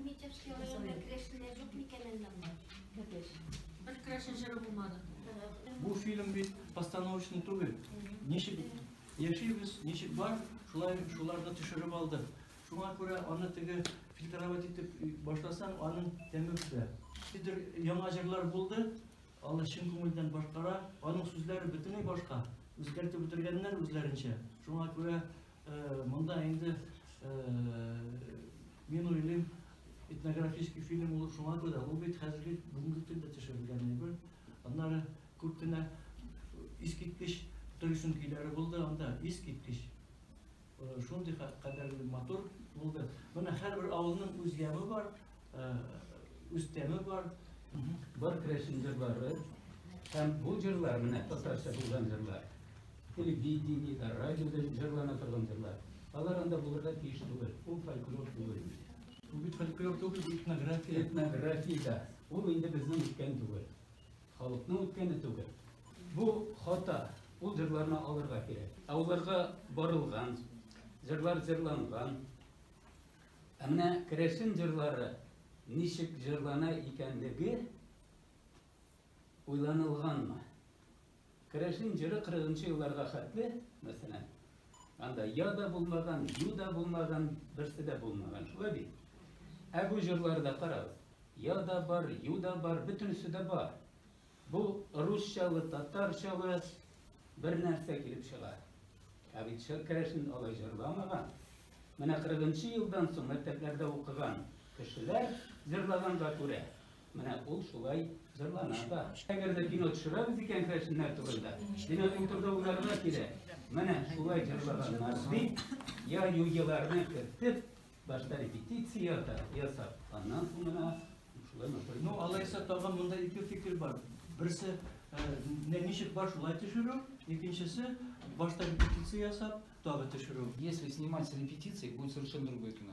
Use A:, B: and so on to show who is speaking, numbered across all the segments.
A: Митяшки районында керәшеннәр юк микән әллә монда? Бәпеш. Бер
B: керәшен җыры булмады. Бу фильм бит постановочный түгел. Ничек яшибез, ничек бар, шулай шуларны төшереп алды. Шуңа күрә аны теге фильтровать итеп башласаң, аның тәме бетә. Хидер яңа җырлар булды, аны чын күңелдән башкара, аның сүзләре бөтенләй башка. Үзгәртеп бетергәннәр үзләренчә. Шуңа күрә Монда инде мин уйлыйм, этнографический фильм булу шуңа күрә, ул бит хәзерге бүгенге көндә төшерелгән әйбер. Аннары күп кенә искиткеч төрешен көйләре булды анда, искиткеч. Шундый кадәрле матур булды. Менә һәрбер авылның үз яме бар, үз тәме бар. Бар
C: крәшен җырлары. Һәм бу җырлар, менә татарча булган җырлар. Телевидениедә, радиода җырлана торган җырлар. Алар анда булырга тиеш түгел. Ул фольклор түгел. Бу бит фольклор
B: түгел, этнография. Этнография да.
C: Ул инде безнең үткән түгел. Халыкның үткәне түгел. Бу хата. Ул җырларны алырга кирәк. Ә уларга барылган, җырлар җырланган. Ә менә керәшен җырлары ничек җырлана икәнлеге уйланылганмы? Керәшен җыры кырыгынчы елларга хәтле, мәсәлән, анда я да булмаган, ю да булмаган, берсе дә булмаган, шулай бит? Ә бу җырларда карагыз, я да бар, ю да бар, бөтенесе дә бар. Бу русчалы, татарчалы бер нәрсә килеп чыга. Ә бит Шәкәрәшен алай җырламаган. Менә 40 елдан соң мәктәпләрдә укыган кешеләр җырлаганга күрә, Менә ул шулай җырлана да. Әгәр дә кино төшерәбез икән керәшеннәр турында, димәк ул турыда уйларга кирәк. Менә шулай җырлаганнар дип, я юйыларны кертеп, башта репетиция ясап, аннан соң гына шулай матур. Ну, алайса тагын
B: монда ике фикер бар. Берсе, менә ничек бар шулай төшерү, икенчесе башта репетиция ясап, тагы төшерү. Если снимать с
D: репетицией, будет совершенно другое кино.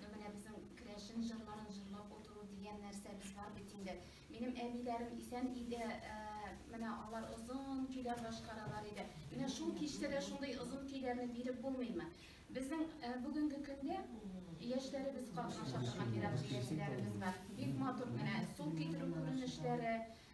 A: Ну менә безнең керәшен җырларын җырлап утыру дигән нәрсәбез бар бит инде. Минем әбиләрем исән иде, э, менә алар озын көйләр башкаралар иде. Менә шул кичтә дә шундый озын көйләрне биреп булмыймы? Безнең э, бүгенге көндә яшьләребез катнаша торган ерак җиләкчеләребез бар. Бик матур менә су китерү күренешләре,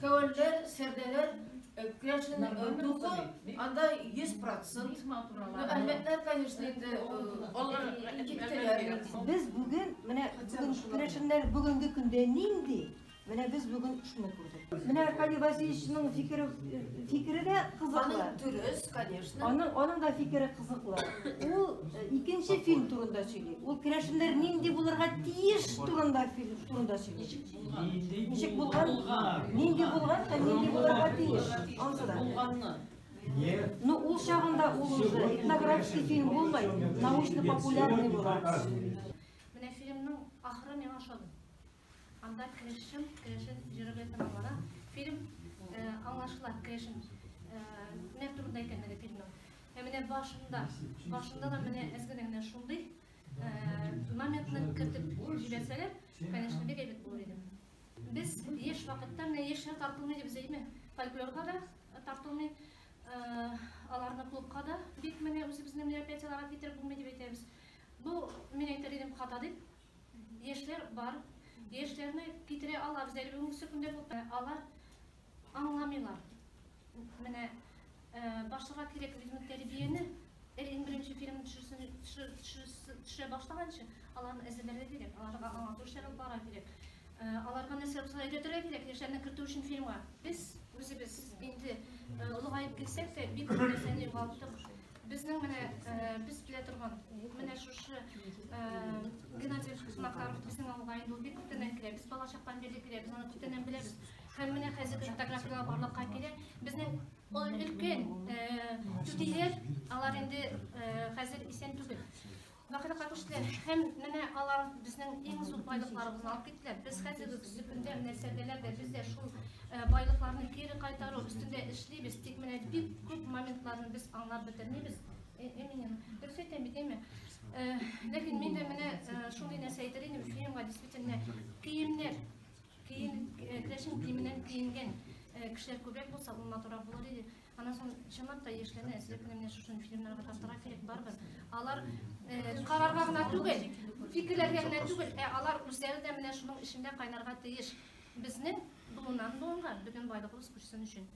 E: Кәвәнләр, сәрдәләр керәшен духы анда 100%. Ну, әлмәтләр, конечно, инде алар киттеләр. Без бүген,
F: менә бүген керәшеннәр бүгенге көндә нинди, менә без бүген шуны күрдек. Менә Аркадий Васильевичның фикере, фикере дә кызыклы. Аның дөрес, конечно.
E: Аның, аның да фикере
F: кызыклы. Ул икенче фильм турында сөйли. Ул керәшеннәр нинди булырга тиеш турында фильм турында сөйли. Ничек булган? Нинди булган һәм нинди булырга тиеш? Ансы да. Булганны. Ну, ул чагында ул уже этнографический фильм булмай, научно-популярный була. Менә
A: фильмның ахыры миңа ошады. Анда крешем, крешен җырыбы тыңлана. Фильм э, аңлашыла, крешен. Э, менә турында икәнлеге фильмның. Ә менә башында, башында да менә әзгәнә генә шундый Намекны кертеп җибәрсәләр, конечно, бик әйбәт булыр иде. Без еш вакытта менә яшьләр тартылмый дип сөйләйме? Фольклорга да тартылмый, аларны клубка да бик менә үзебезнең мероприятиеларга китереп булмый дип әйтәбез. Бу мин әйтер идем хата дип. Яшьләр бар. Яшьләрне китерә алабыз әле бүгенге көндә алар Аңламыйлар. Менә башларга кирәк бит ул тәрбияне. Эр иң беренче фильм төшерсен, төшерә башлаганчы, аларны әзерләргә кирәк, аларга аңлату эшләре бара кирәк. Аларга нәрсә булса әйтергә кирәк, яшьләрне кертү өчен фильмга. Без үзебез инде олыгаеп килсәк тә, бик күп нәрсәне югалттык. Безнең менә без белә торган, менә шушы Геннадий Смакаров безнең авылга инде ул бик күптәннән килә. Без балачактан бирле килә, без аны күптәннән беләбез. Һәм менә хәзерге фотографияләр барлыкка килә. Безнең ул өлкән түтиләр, алар инде хәзер исән түгел. Вакыта катыштылар. Һәм менә алар безнең иң зур байлыкларыбызны алып киттеләр. Без хәзерге көзге көндә менә сәбәләрдә без дә шул байлыкларны кире кайтару өстендә эшлибез. Тик менә бик күп моментларны без аңлап бетермибез. Эминем, дөрес әйтәм бит, әйме? Ләкин мин дә менә шундый нәрсә әйтер идем, фильмга действительно киемнәр Киен, э, кләшен киеменнән киенгән э, кешеләр күбрәк булса, ул матурак булыр иде. Аннан соң чынлап та яшьләрне әзер кенә менә шушы фильмнарга тартырга кирәк барыбер. Алар э, карарга гына түгел, фикерләргә генә түгел, ә алар үзләре дә менә шуның эчендә кайнарга тиеш. Безнең буыннан буынга бөтен байлыгыбыз күчсен өчен.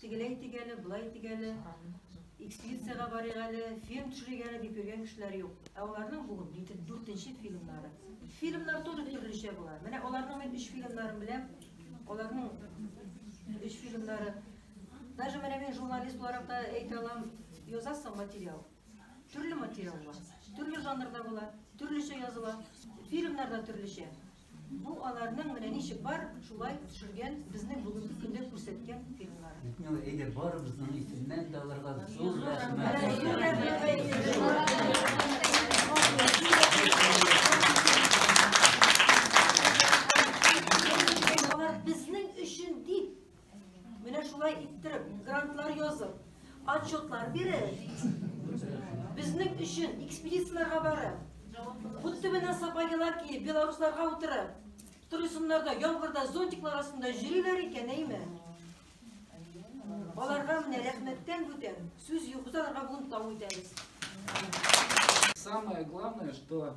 F: Тегеләй итик әле, болай итик әле, экспедициягә барыйк әле, фильм төшерик әле дип йөргән кешеләр юк. Ә аларның бүген бит дүртенче фильмнары. Фильмнар тоже төрлечә була. Менә аларның мин өч фильмнарын беләм. Аларның өч фильмнары. Даже менә мин журналист буларак та әйтә алам, язасың материал. Төрле материал була. Төрле жанрда була, төрлечә языла. Фильмнар да төрлечә. Бу аларның менә ничек бар, шулай төшергән, безнең бүгенге көндә күрсәткән фильмнар. Битнева, әйдә барыбызның
C: исеменнән дә аларга зур
F: рәхмәт. Менә шулай иттереп, грантлар язып, отчетлар биреп, безнең өчен экспедицияләргә барып, бут төбенә сапаялар киеп, белорусларга утырып, торысыннар да яңгырда зонтиклар астында йөриләр икән, әйме? Аларга менә рәхмәттән бүтән сүз юк, без аларга бүген тау итәбез. Самое
D: главное, что